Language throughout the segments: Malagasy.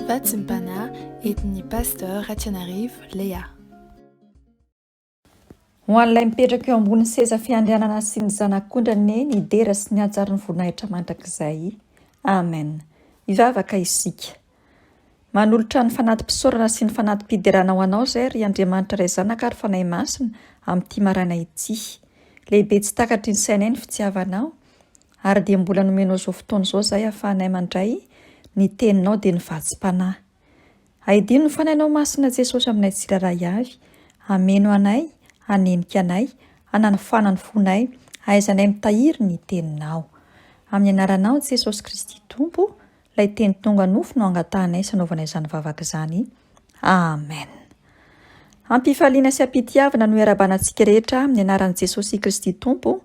Fahatsimpana entin'ny Pasteur Ratsianarivo Léa. Ho an'ilay mipetraka eo ambonin'ny seza fiandrianana sy ny zanak'ondry anie ny dera sy ny hajarin'ny voninahitra mandrakizay. Amen. Hivavaka isika. Manolotra ny fanati-pisaorana sy ny fanati-piderana ho Anao izay ry Andriamanitra Ray Zanaka ary Fanahy Masina amin'ity maraina ity. Lehibe tsy takatry ny sainay ny fitiavanao. Ary dia mbola nomenao izao fotoana izao izahay ahafahanay mandray ny Teninao dia ny vatsim-panahy. Ahidino ny Fanahinao Masina Jesosy aminay tsirairay avy, hameno anay, hanenika anay, hananofana ny fonay, hahaizanay mitahiry ny Teninao. Amin'ny Anaranao Jesosy Kristy Tompo Ilay teny tonga nofo no angatahanay sy anaovanay izany vavaka izany. Amen. Ampifaliana sy ampitiavana no iarahabana antsika rehetra amin'ny anaran'i Jesosy Kristy Tompo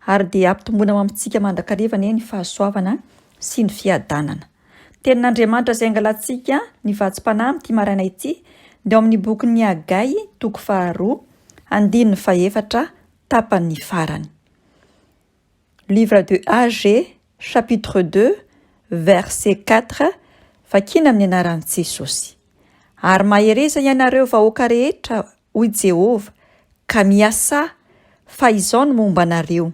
ary dia ampitomboina ao amintsika mandrakariva anie ny fahasoavana sy ny fiadanana. Tenin'Andriamanitra izay angalantsika ny vatsim-panahy amin'ity maraina ity dia ao amin'ny bokin'ny Hagay toko faharoa, andininy fahefatra, tapany farany. Livre de AG, chapitre deux, verset quatre, Vakina amin'ny anaran'i Jesosy. Ary mahereza ianareo vahoaka rehetra, hoy Jehovah, ka miasà, fa izao no momba anareo,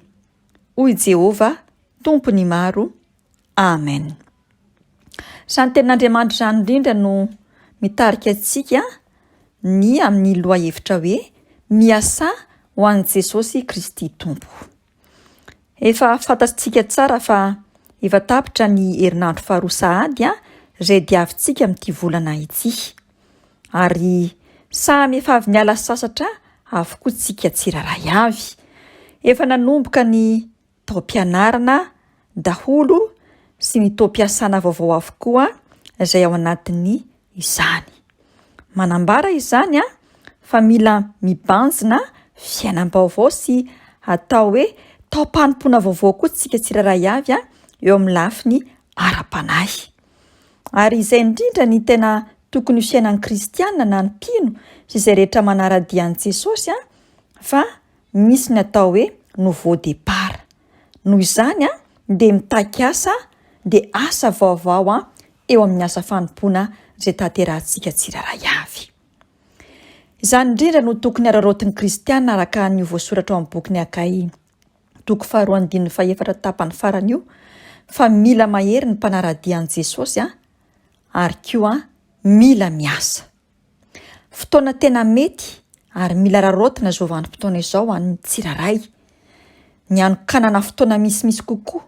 hoy Jehovah, Tompon'ny maro, Amen. Izany tenin'Andriamanitra izany indrindra no mitarika antsika ny amin'ny lohahevitra hoe miasà ho an'i Jesosy Kristy Tompo. Efa fantatsika tsara fa efa tapitra ny herinandro faharoa sahady izay diavintsika amin'ity volana ity. Ary samy efa avy niala sasatra avokoa tsika tsirairay avy. Efa nanomboka ny taom-pianarana daholo sy ny taom-piasana vaovao avokoa izay ao anatin'ny izany. Manambara izany fa mila mibanjina fiainam-baovao sy atao hoe taom-panompoana vaovao koa tsika tsirairay avy eo amin'ny lafiny ara-panahy. Ary izay indrindra ny tena tokony ho fiainan'ny kristiana na ny mpino sy izay rehetra manara-dia an'i Jesosy fa Misy ny atao hoe nouveau départ. Noho izany dia mitaky asa dia asa vaovao eo amin'ny asa fanompoana izay tanterahintsika tsirairay avy. Izany indrindra no tokony hararaotin'ny kristiana araka an'io voasoratra ao amin'ny bokin'i Hagay, toko faharoa andininy fahefatra tapany farany io, fa mila mahery ny mpanara-dia an'i Jesosy ary koa mila miasa. Fotoana tena mety ary mila raraotina izao vanim-potoana izao ho an'ny tsirairay. Ny hanokanana fotoana misimisy kokoa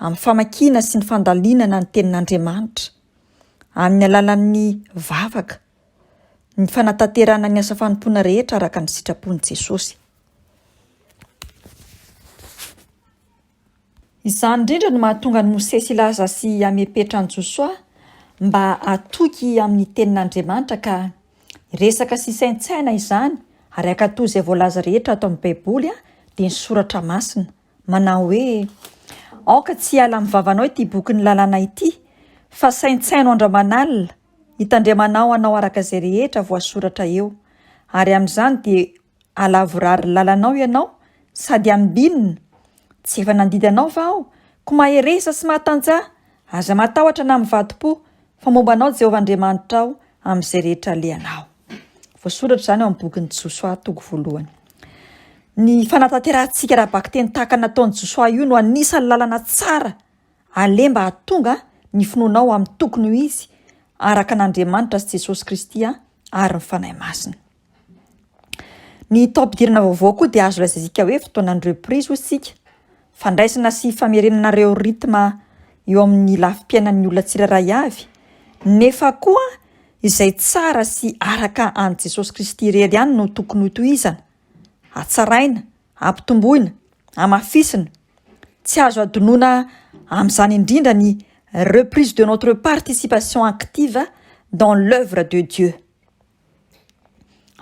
amin'ny famakiana sy ny fandalinana ny Tenin'Andriamanitra, amin'ny alalan'ny vavaka, ny fanatanterahana ny asa fanompoana rehetra araka ny sitrapon'i Jesosy. Izany indrindra no mahatonga an'i Mosesy hilaza sy hamepetra an'i Josoa mba hatoky amin'ny Tenin'Andriamanitra ka resaka sy saintsaina izany ary hankatò izay voalaza rehetra ato amin'ny Baiboly dia ny Soratra Masina manao hoe, Aoka tsy hiala amin'ny vavanao ity bokin'ny lalàna ity, fa saintsaino andraman'alina, hitandremanao hanao araka izay rehetra voasoratra eo, ary amin'izany dia Alavorary lalanao ianao sady ambinina Tsy efa nandidy anao va aho Ko mahereza sy mahatantsaha Aza matahotra na mivadi-po Fa momba anao Jehovah Andriamanitra aho Amin'izay rehetra alehanao Voasoratra izany ao amin'ny bokin'i Josoa toko voalohany Ny fanatanterahantsika ara-bakiteny tahaka ny nataon'i Josoa io no anisan'ny lalana tsara aleha mba hahatonga ny finoanao amin'ny tokony ho izy araka an'Andriamanitra sy Jesosy Kristy ary ny Fanahy Masina. Ny taom-pidirana vaovao koa dia azo lazaizika hoe fotoanan'ny reprise hoy isika, fandraisana sy famerenana ireo rythme eo amin'ny lafim-piainan'ny olona tsirairay avy, nefa koa izay tsara sy araka an'i Jesosy Kristy irery ihany no tokony hotohizana, hatsaraina, hampitomboina, hamafisina, tsy azo hadinoina amin'izany indrindra ny reprise de notre participation active dans l'oeuvre de Dieu.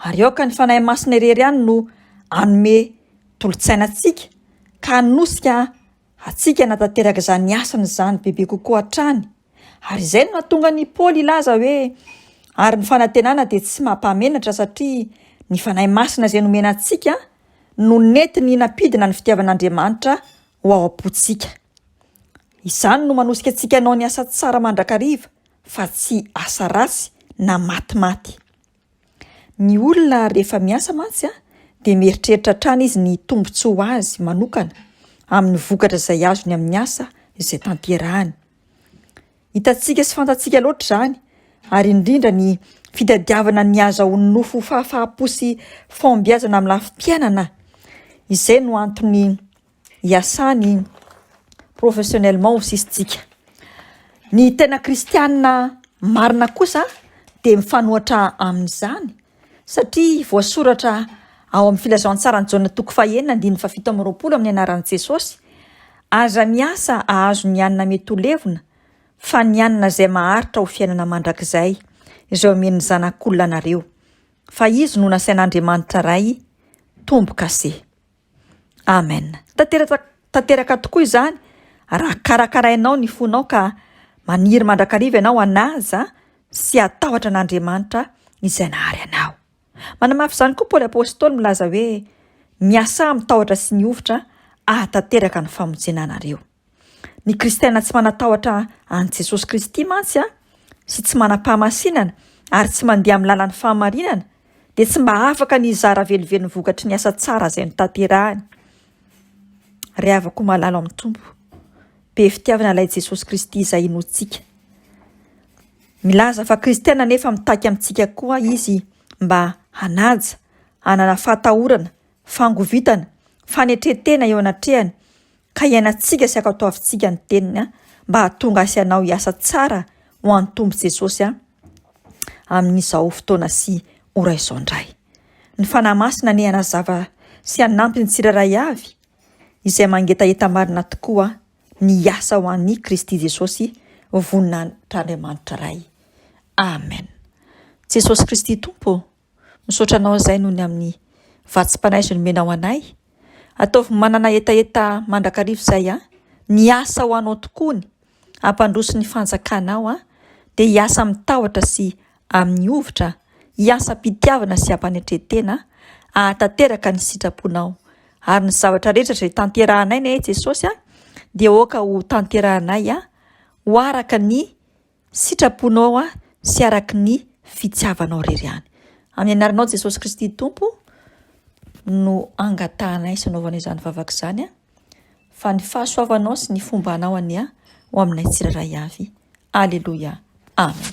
Ary aoka ny Fanahy Masina irery ihany no hanome tolo-tsaina antsika ka hanosika antsika hanatanteraka izany asany izany bebe kokoa hatrany. Ary izay no nahatonga an'i Paoly hilaza hoe, Ary ny fanantenana dia tsy mampahamenatra satria ny Fanahy Masina izay nomena antsika no nentiny hinampidina ny fitiavan'Andriamanitra ho ao am-pontsika. Izany no manosika antsika hanao ny asa tsara mandrakariva fa tsy asa ratsy na matimaty. Ny olona rehefa miasa mantsy dia mieritreritra hatrany izy ny tombontsoa ho azy manokana amin'ny vokatra izay azony amin'ny asa izay tanterahany. Hitantsika sy fantatsika loatra izany ary indrindra ny fitadiavana ny hahazahoan'ny nofo fahafaham-po sy fahombiazana amin'ny lafim-piainana, izay no antony iasany iny professionnellement ho sisintsika. Ny tena kristianina marina kosa dia mifanohatra amin'izany satria voasoratra ao amin'ny filazantsaran'i Jaona toko fahenina andininy fahafito amby roapolo amin'ny anaran'i Jesosy, aza miasa ahazo ny hanina mety ho levona fa ny hanina izay maharitra ho fiainana mandrakizay izay omen'ny Zanak'olona anareo, fa izy no nasain'Andriamanitra Ray tombo-kase. Amen. Tanteraka tanteraka tokoa izany raha karakarainao ny fonao ka maniry mandrakariva ianao hanaja sy hatahotra an'Andriamanitra izay nahary anao. Manamafy izany koa Paoly Apostoly milaza hoe, Miasà amin'ny tahotra sy ny hovitra ahatanteraka ny famonjena anareo. Ny kristiana tsy manan-tahotra an'i Jesosy Kristy mantsy sy tsy manam-pahamasinana ary tsy mandeha amin'ny lalan'ny fahamarinana dia tsy mba afaka ny hizara velively ny vokatry ny asa tsara izay notanterahany. Ry havako malalo amin'ny Tompo, be fitiavana ilay Jesosy Kristy izay inoantsika. Milaza fa kristiana nefa mitaky amintsika koa izy mba hanaja, hanana fahatahorana, fangovitana, fanetren-tena eo anatrehany ka iainantsika sy akatoavintsika ny teniny a mba hahatonga ahy sy anao hiasa tsara ho an'ny Tompo Jesosy a amin'izao fotoana sy ora izao indray. Ny Fanahy Masina anie hanazava sy hanampy ny tsirairay avy izay mangetaheta marina tokoa ny hiasa ho an'i Kristy Jesosy voninahitr'Andriamanitra Ray. Amen. Jesosy Kristy Tompo Misaotra anao izay noho ny amin'ny vatsim-panaizo nomenao anay. Ataovy manana hetaheta mandrakariva izay an! Ny asa ho anao tokoa ny hampandroso ny fanjakanao an! Dia hiasa amin'ny tahotra sy amin'ny hovitra, hiasa am-pitiavana sy am-panetren-tena hahatanteraka ny sitraponao. Ary ny zavatra rehetra izay tanterahanay anie Jesosy an! Dia aoka ho tanterahanay ho araka ny Sitraponao aho sy araky ny fitiavanao rery ihany. Amin'ny anaranao Jesosy Kristy Tompo no angatahanay sy anaovanay izany vavaka izany an, fa ny fahasoavanao sy ny fomba anao anie ho aminay tsirairay avy. Aleloia. Amen.